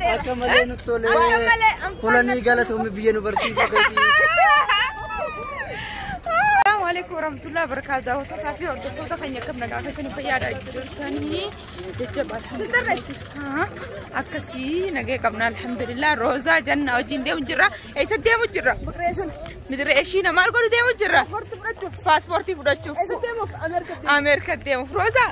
Akka malee nutti tolee. Akka malee anfaan Kulanii natti galatoomii biyya nu barsiisuu keetii. Assalamu alaikum warahmatullahi wabarakatuh. Daawwattootaa fi hordoftoota keenya akkam nagaa keessanii fayyaadha jirtanii jajjabaa alhamdulillah. Akkasii nagee qabna alhamdulillah. Roozaa jannaa wajjin deemu jirra. Eessa deemu jirra? Migreeshin. Midire ishii namaa godhu deemu jirra. Paaspoortii fudhachuuf. Paaspoortii fudhachuuf. Eessa deemuuf? Ameerika deemuuf. Ameerika deemuuf. Roozaa.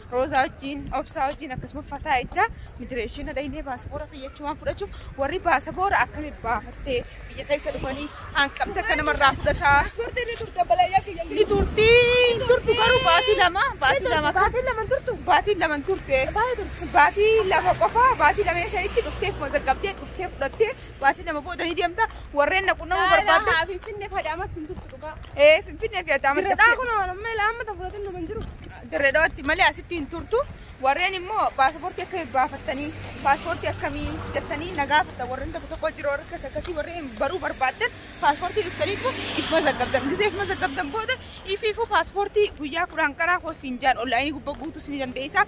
Roozaa wajjin, Obsaa wajjin akkasuma fataa jecha migireeshina dhaynee baasaboora fayyachumaan fudhachuuf warri baasaboora akkami baafattee biyya keessa dhufanii hanqamte akka namarraa fudhataa. Paaspoortii ni turte balayyaa kiyya. Ni turti, hin turtu garuu baatii lama, baatii lama, Baatiin lama hin turtu. baatii lama hin turte. Baay'ee turte. Baatii lama qofa, baatii lama isa itti dhuftee mazaggabdee dhuftee fudhattee baatii lama booda ni deemta warreen na qunnamuu barbaadda. Laalaa fi finne fadaamatti hin turtu dhugaa. Ee, Finfinnee fi Adaamaa Birradhaa kun amma ilaa amma tan fudhatin nama hin jiru. Dirreedhaatti malee asitti hin turtu. Warreen immoo paaspoortii akka hin baafattanii paaspoortii akkamii jettanii na gaafatan warreen tokko tokko jiru warra akkas akkasii warreen baruu barbaaddan paaspoortii dhuftanii kun if mazaggabdan gisee if mazaggabdan booda ifiifuu paaspoortii guyyaa kudhan karaa hoosiin jaan onlaayinii gubbaa guutuus ni dandeessa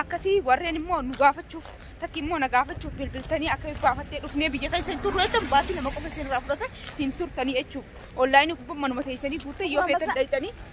akkasii warreen immoo nu gaafachuuf takki immoo na gaafachuuf bilbiltanii akka hin baafattee dhufnee biyya keessa hin turru jettan baatii lama qofa isin irraa fudhata hin turtanii jechuudha onlaayinii gubbaa manuma teessanii guuttee yoo feetan dhayxanii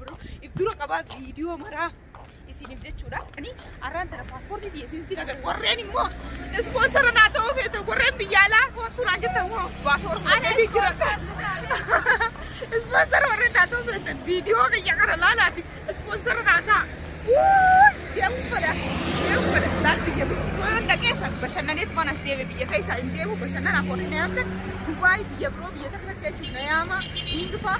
bro if dura qabaa viidiyoo maraa isiniif jechuudha ani arraan tana paaspoortii tiyya isinitti nagar warreen immoo ispoonsara naa ta'uu feetu warreen biyya alaa hoottuu naan jettan immoo paaspoortii ni jira ispoonsara warreen naa ta'uu feetan viidiyoo biyya kana laalaati ispoonsara naa ta'a deemuu fedha deemuu fedha laal biyya biro waan dhaqeessa bashannaneet waan as deeme biyya keessa hin deemu bashannanaaf warri na yaamtan Dubaay biyya biroo biyya takka takka jechuun na yaama Ingifaa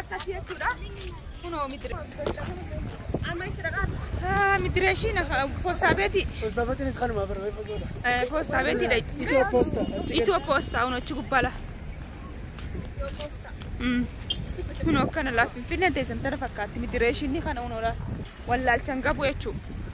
Akkasii jechuudha. Kunoo midire. Amma isa dhaqaa. Ah, midire ishii na poostaa beeti. Poostaa beetiinis kanuma bara reefa goota. Eh, Poostaa beeti dha. Itoo poostaa. Itoo poostaa kun achi gubbaa lafa. Mm. Kun akkana laaf finfinneen teessan tana fakkaatti midire ishii ni kana unoodha. Wallaalchan qabu jechuudha.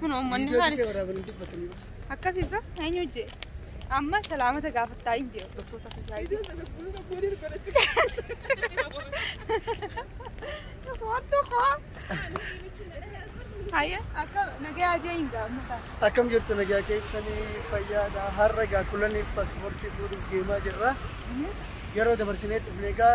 Kun uummanni Viidiyoo haalis. gisee waraaban hin dubbatanii. Akkasiisa eenyu hojjee? Amma salaamata gaafattaa hin jiru dhuftoota fayyaa. Waan tokko. Hayya akka nagaa ajee hin gaafata. Akkam jirtu nagaa keessanii fayyaadha. Har'a egaa kulaniif paaspoortii fuudhuuf deemaa jirra. Yeroo dabarsinee dhufne egaa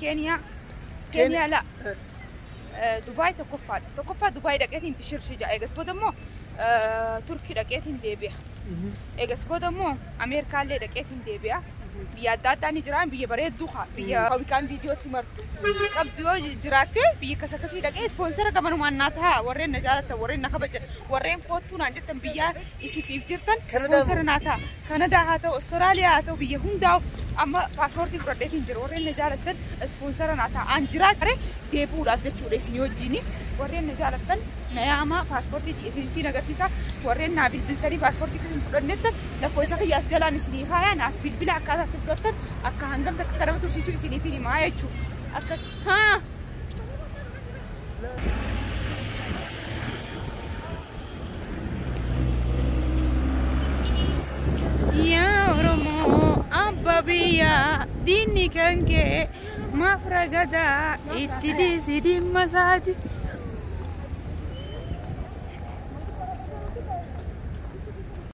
Keeniyaa. Keeniyaa laa. Dubaay tokkoffaadha. Tokkoffaa Dubaay dhaqeetiin itti shirshi ja'a. Eegas booda immoo Turkii dhaqeetiin deebi'a. Eegas booda immoo Ameerikaallee dhaqeetiin deebi'a. Biyya adda addaa ni jiraan biyya bareedduu haa biyya hawwikaan viidiyootti martu. Qabdu yoo jiraattee biyya akkas akkasii dhaqee ispoonsera gamanumaan naa ta'a warreen na jaalatan warreen na kabajan warreen koottuu naan jettan biyyaa isifiif jirtan ispoonsera naa ta'a. Kanadaa haa ta'u, Australia haa ta'u biyya hundaa'u amma paaspoortii fudhadheetiin jira. Warreen na jaalattan ispoonsara naa ta'a. An jiraa kare deebi'uudhaaf jechuudha isinii wajjin. Warreen na jaalattan na yaamaa paaspoortii kiyya isinitti agarsiisa. Warreen naa bilbiltanii paaspoortii isin fudhannettan lakkoofsa kiyya as jalaan isinii kaayaa naaf bilbila akkaataa itti fudhattan akka hangam takka akka nama tursiisuu isiniif himaa jechuudha. Akkas haa. Yaa Oromoo abba biyyaa diinni kan kee maaf ragadaa itti dhiisi dhimma isaati.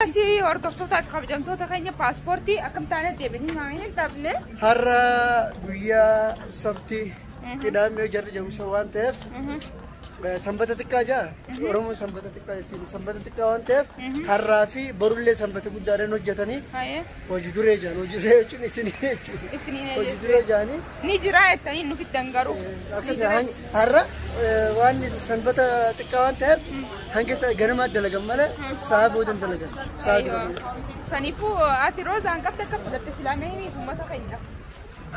Asii hordoftootaa fi kabajamtoota keenya paaspoortii akkam taanee deebiin maa hin dhabne. Har'a guyyaa sabti qidaamee jarri jedhu isa waan ta'eef Sanbata xiqqaa jaa Oromoon sanbata xiqqaa jechuun sanbata xiqqaa waan ta'eef har'aa fi borullee sanbata guddaadhaan hojjetanii Haye. hojii duree jaan hojii duree jechuun isin jechuudha. Isiniin Hojii eeyyee. duree jaanii Ni jira jettanii nu fiddan garuu. akkas han- har'a eh, waan sanbata xiqqaa waan ta'eef hanga sa- ganamaa dalagan malee sa'a boodan dalagan sa'a dura malee. Saniifuu ati roozaan qabda akka fudhatte silaamee uummata keenyaaf.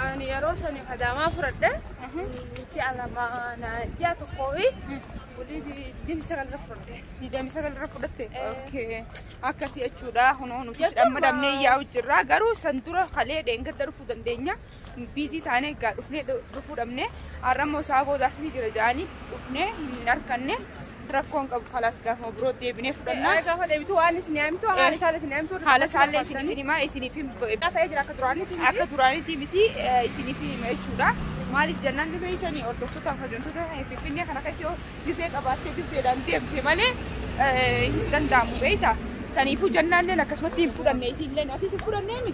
Ani yeroo sani kadaamaa fudhadhe nuti alama na ji'a tokkoo fi bulii digdamii sagal irra fudhadhe. Digdamii sagal irra fudhatte. Okay. Akkasii jechuudha. Kunoo nuti Jechuun sidhamma dhabnee maa- yaa'u jirra. Garuu san dura kalee dheengadda dhufuu dandeenya. Biizii taanee egaa dhufnee dhu- dhufuu dhabnee. Har'a immoo isaa boodaas ni jira ja'anii dhufnee hin arkanne. Rakkoon qabu kalaas gaafuma birootti deebinee fudhanna. Gaafa deebitu waan isin yaamtu haala isaallee isin yaamtu. Haala isaallee isiniif hin himaa isiniif hin ta'ee jira akka duraanitti. Akka duraanitti miti isiniif hin hima jechuudha. Maaliif jennaan ni beeytanii hordoftoota hojjettoota Finfinnee kana keessa yoo gizee qabaattee gizeedhaan deemte malee hin danda'amu beeyta. Saniifuu jennaalleen akkasumatti hin fudhanne isiilleen atis hin fudhanneemi.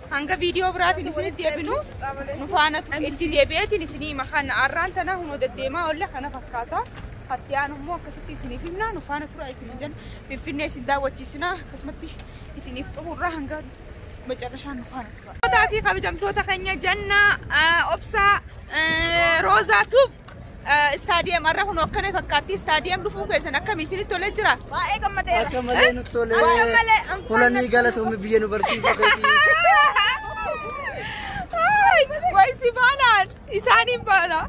Hanga viidiyoo biraatiin isinitti deebinu nu faana ture. Itti deebi'eetiin isinii hima. Kana arraan tana hunoo deddeemaa oolle kana fakkaata. Hatti aanu immoo akkasitti isiniif himna. Nu faana tura isin jenna. Finfinnee isin daawwachiisina. Akkasumatti isiniif xumurra hanga macarrashaan nu faana tura. Tootaa fi kabajamtoota keenya janna obsaa roozaa tuub. Istaadiyeem har'a kun akkana fakkaatti. Istaadiyeem dhufuu keessan akkami isinitti tolee jira? Baay'ee gammadeera. Akka malee nutti tolee. Akka malee, anfaan Kulanii natti galatoomni biyya nu barsiisuu keetii. Ay, Way si baanaan isaaniin baana.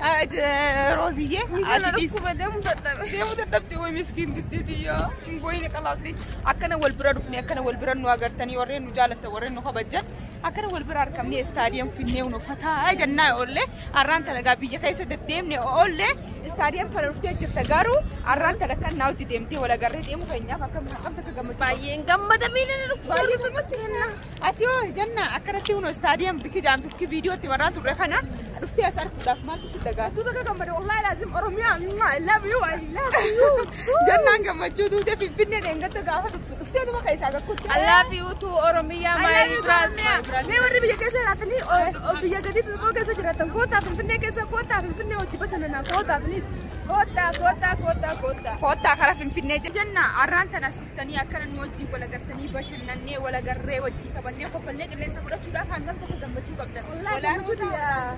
Ah, je- Rooziyyee ati dhiis. Deemuu dadhabe. Deemuu dadhabde way miskiin diddiidiyyoo. Hin booyine qalaasnis akkana wal bira dhufne akkana wal bira nu agartanii warreen nu jaalatan warreen nu kabajan akkana wal bira argamnee istaadiyeem finnee nu fataa jennaa oollee. Arraan tana egaa biyya keessa deddeemne oolle istaadiyeem kana dhuftee jirta garuu arraan tana kan naa hojii deemtee wal agarree deemu keenyaaf akka haqamta akka gammachuu. Baay'een gammada miila na Baay'ee gammachuu kenna. Ati hoo janna akkanatti kunoo istaadiyeem bikki jaan bikki viidiyootti warraa turre kana dhuftee as arguudhaaf maaltu si dagaa? Hedduu bakka gammada wallahi laazim Oromiyaa I love you I love you. Jannaan gammachuu duute finfinnee dheengatta gaafa dhuftu dhuftee nama keessaa gakkutti. Allaafi utuu Oromiyaa maayii biraas. Mee warri biyya keessa jiraatanii o- o- biyya gadii xixiqqoo keessa jiraatan kootaa finfinnee keessa kootaa finfinnee hojii basannanaa kootaa please kootaa kootaa kootaa kootaa. Koottaa karaa finfinnee je- jenna arraan tanas dhuftanii akkana nu wajjin walagartanii bashannannee walagarree wajjin taphannee kofallee qilleensa fudhachuudhaaf hangam tokko gammachuu qabdan. Wallaahi gammachuu tiyyaa.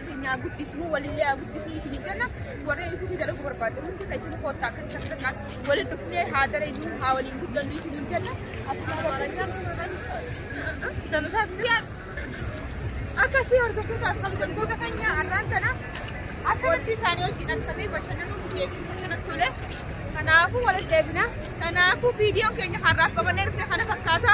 keenya haa guddisnu walillee haa guddisnu isin jenna warri yuutuubii dalaguu barbaaddan hundi keessan koottaa akka kan kanaan waliin dhufnee haa dalagnu haa waliin guddannu isin jenna akkuma dabalanii akkasii hordoftoota akkam jabboota keenya arraan tana akkanatti isaanii wajjin argamee bashannanuu biyyeetti kanatti tole kanaafuu walitti deebina kanaafuu viidiyoon keenya har'aaf qabannee dhufne kana fakkaata.